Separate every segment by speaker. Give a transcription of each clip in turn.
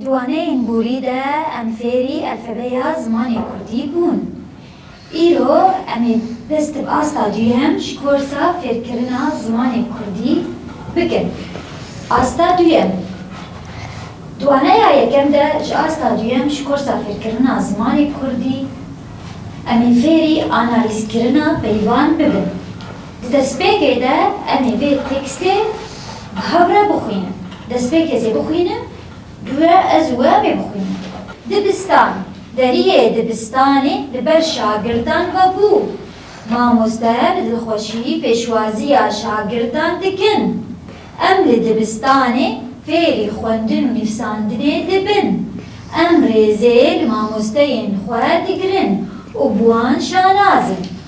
Speaker 1: Di waneyên
Speaker 2: borî de em fêrî elfebeya zimanê kurdî bûn. Îro em ê dest bi asta duyem ji korsa fêrkirina zimanê kurdî bikin. Asta duyem, Di waneya yekem de ji asta duyem ji korsa fêrkirina zimanê kurdî em ê fêrî analîzkirina peyvan bibin. Di destpêkê de em ê vê tekstê bi hev re bixwînin. Destpêkê ez ê bixwînim, guya ez û we em ê bixwînin. Dibistan, deriyê dibistanê li ber şagirdan ve bû. Mamosteyan bi dilxweşiyî pêşwaziya şagirdan dikin. Em li dibistanê fêrî xwendin û nivsandinê dibin. Em rêzê li mamosteyên xwe digirin û bi wan şanaz in.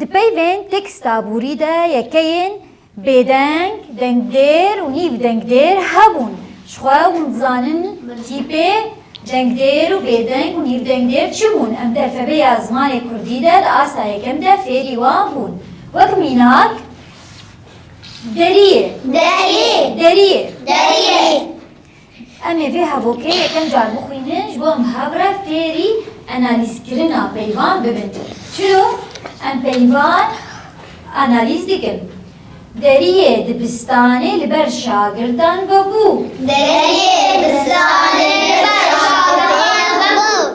Speaker 2: Di peyvên tekstaborî de yekeyên bêdeng, dengdêr û nîv dengdêr hebûn. Ji xwe hûn dizanin tîpê dengdêr û bêdeng û nîv dengdêr çi bûn. Em di elfebeya zimanê kurdî de di asta yekem de fêrî wan bûn. Wek mînak, deriyê.
Speaker 1: Deriyê.
Speaker 2: Deriyê.
Speaker 1: Deriyê.
Speaker 2: Em ê vê hevokê yekem car bixwînin ji bo em hevre fêrî analîzkirina peyvan bibin. Çiro em peyvan analîz dikin. Deriyê dibistanê li ber şagirdan vebû. Deriyê
Speaker 1: dibistanê li ber şagirdan vebû.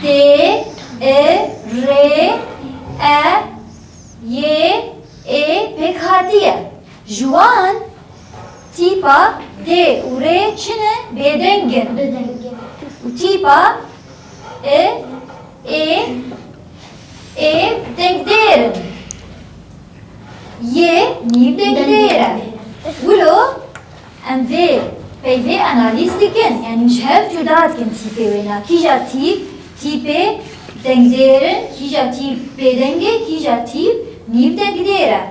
Speaker 2: T, I, R, E, Y, E pêk hatiye. Ji wan tîpa D û R çi ne? Bêdeng in. Û tîpa I, E, E dengdêr in. Y nîvdengdêr e. Wilo Em vê peyvê analîz dikin, yanî ji hev cuda dikin tîpê wêna, kîja tîp, tîpê dengdêr in, kîja tîp bêdeng e, kîja tîp nîv dengdêr e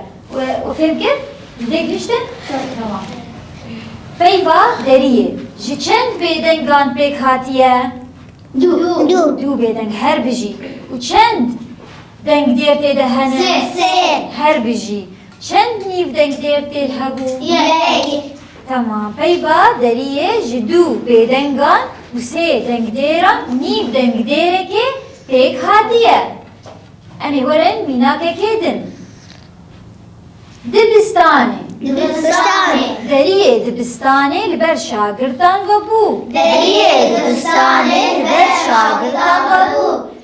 Speaker 2: û fêm kir ji vê giştin temam e. Peyva deriyê ji çend bêdengan pêk hatiye? Du. Du bêdeng her bijî. Û çend dengdêr tê de hene? Sê. Her
Speaker 1: bijî.
Speaker 2: Çend nîvdeng dêr tê hebû? Yek.
Speaker 1: Temam.
Speaker 2: Peyva deriyê ji dû bêdengan û sê dengdêran nîvdeng dêrekê pêk hatiye. Em ê werin mînakekê din. Dibistanê. Dibistanê.
Speaker 1: Deriyê
Speaker 2: dibistanê li ber şagirdan ve bû. Deriyê
Speaker 1: dibistanê li ber şagirdan ve bû.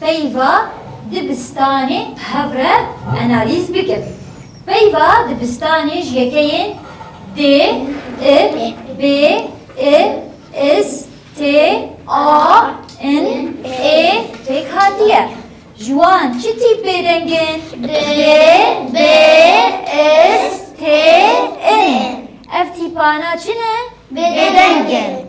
Speaker 2: Peyva dibistanê bi hev re analîz bikin. Peyva dibistanê ji yekeyên D, I, B, I, is, T, A, in, ê pêk hatiye. Ji wan çi tîpê deng in? D, B, is, T, in ê. Ev tîpana çi ne? Bêdeng in.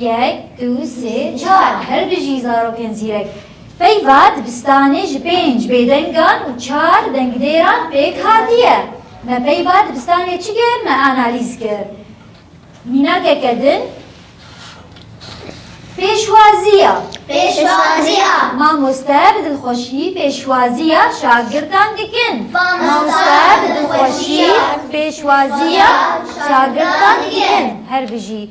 Speaker 2: Yek, du, sê, çar, her bijî zarokên zîrek. Peyva dibistanê ji pênc bêdengan û çar dengdêran pêk hatiye. Me peyva dibistanê çi kir? Me analîz kir. Mînakeke din Pêşwaziya. Pêşwaziya. Mamoste bi dilxweşî pêşwaziya şagirdan dikin. Mamoste bi dilxweşî pêşwaziya şagirdan dikin. Her bijî.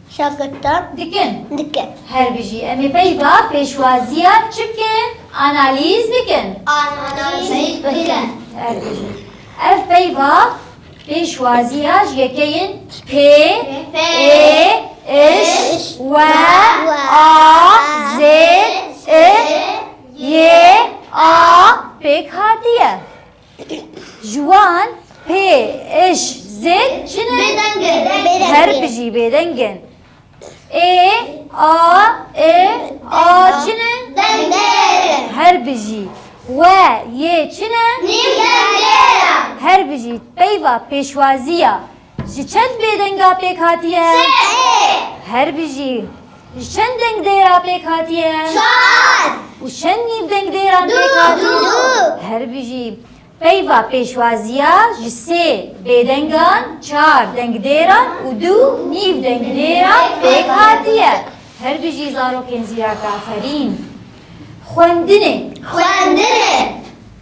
Speaker 2: Şagirda dikin. Dikin. Her bijî. Em ê peyva pêşwaziya çi bikin? Analîz bikin. Analîz bikin. Her bijî. Ev peyva pêşwaziya ji yekeyên pê, ê, iş, we, a, zêd, i, yê, a pêk hatiye. Ji wan pê ij zêd çin in? Her bijî bêdeng in. Ê, a, i, a çin in? Her bijî we, yê çin in? Her bijî peyva pêşwaziya. Ji çend bêdenga pêk hatiye? Sê. Her bijî. Ji çend deng dêra pêk hatiye? Çar. Û çend nîvdeng dêran pêk hatiye? Du. Her bijî. Peyva pêşwaziya ji sê bêdengan, çar dengdêran û du nîvdengdêran pêk hatiye. Her bijî zarokên zîrak aferîn. Xwendinê. Xwendinê.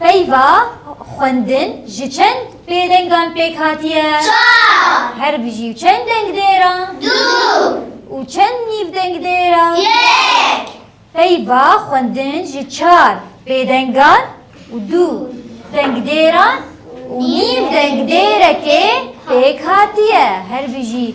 Speaker 2: Peyva xwendin ji çend pêdengan pêk hatiye? Çar. Her bijî û çend dengdêr a? Du. Û çend nîvdengdêr a? Yek. Peyva xwendin ji çar pêdengan û du dengdêran û nîv dengdêrekê pêk hatiye. Her bijî.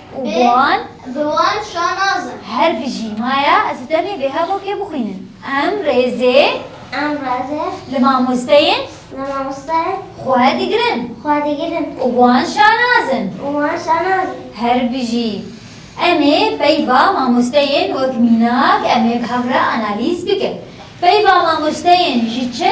Speaker 2: û bi wan bi wan
Speaker 1: şanaz in. Her bijî
Speaker 2: maya ez û tenê bê hevokê bixwînin. Em rêzê Em rêzê li mamosteyên
Speaker 1: li mamosteyên xwe digirin
Speaker 2: xwe digirin û
Speaker 1: bi wan şanaz in. û bi wan
Speaker 2: şanaz in.
Speaker 1: Her bijî.
Speaker 2: Em ê peyva mamosteyên wek mînak em ê bi hev re analîz bikin. Peyva mamosteyên ji çi,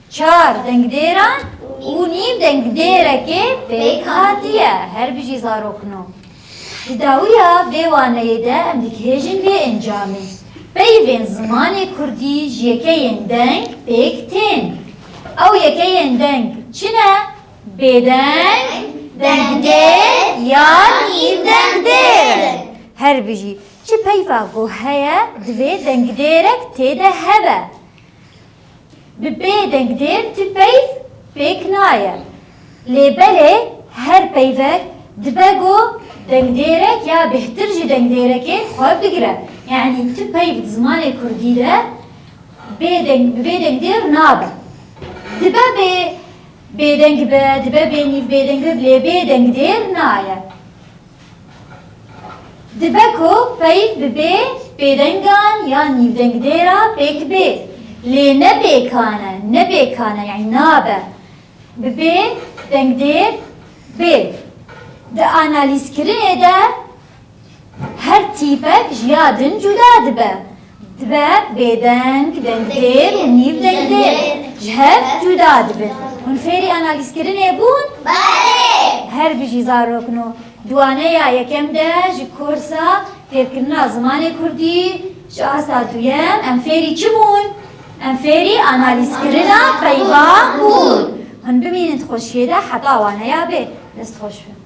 Speaker 2: Çar dengdêran û nîv dengdêrekê pêk hatiye. Her bijî zarokno. Di dawiya vê waneyê de em dikihêjin vê encamê. Peyvên zimanê kurdî ji yekeyên deng pêk tên. Ew yekeyên deng çi ne? Bêdeng, dengdêr ya nîv dengdêr in. Her bijî çi peyva ku heye divê dengdêrek tê de hebe. Bi bê dengdêr ti peyv pêk naye. Lê belê her peyvek dibe ku dengdêrek ya bêhtir ji dengdêrekê xwe bigire. Yanî ti peyv di zimanê kurdî de bê deng bi bê dengdêr nabe. Dibe bê bêdeng be, dibe bênîv bêdeng be lê bê dengdêr naye. Dibe ku peyv bibe bêdengan ya nîvdengdê ra pêk bê. Lê ne bêkan e, ne bêkan e yanî nabe. Bibe dengdêr bê. Di analîzkirinê de her tîpek ji ya din cuda dibe. Dibe bêdeng, dengdêr û nîvdengdêr ji hev cuda dibin. Hûn fêrî analîzkirinê bûn? Belê!
Speaker 1: Her bijî zarok
Speaker 2: no. Dwaneya yekem de ji korsa fêrkirina zimanê kurdî ji asta duyem em fêrî çi bûn? Em fêrî analîzkirina peyva bûn. Hûn bimînin di xweşiyê de heta waneya bê. Destxweş be.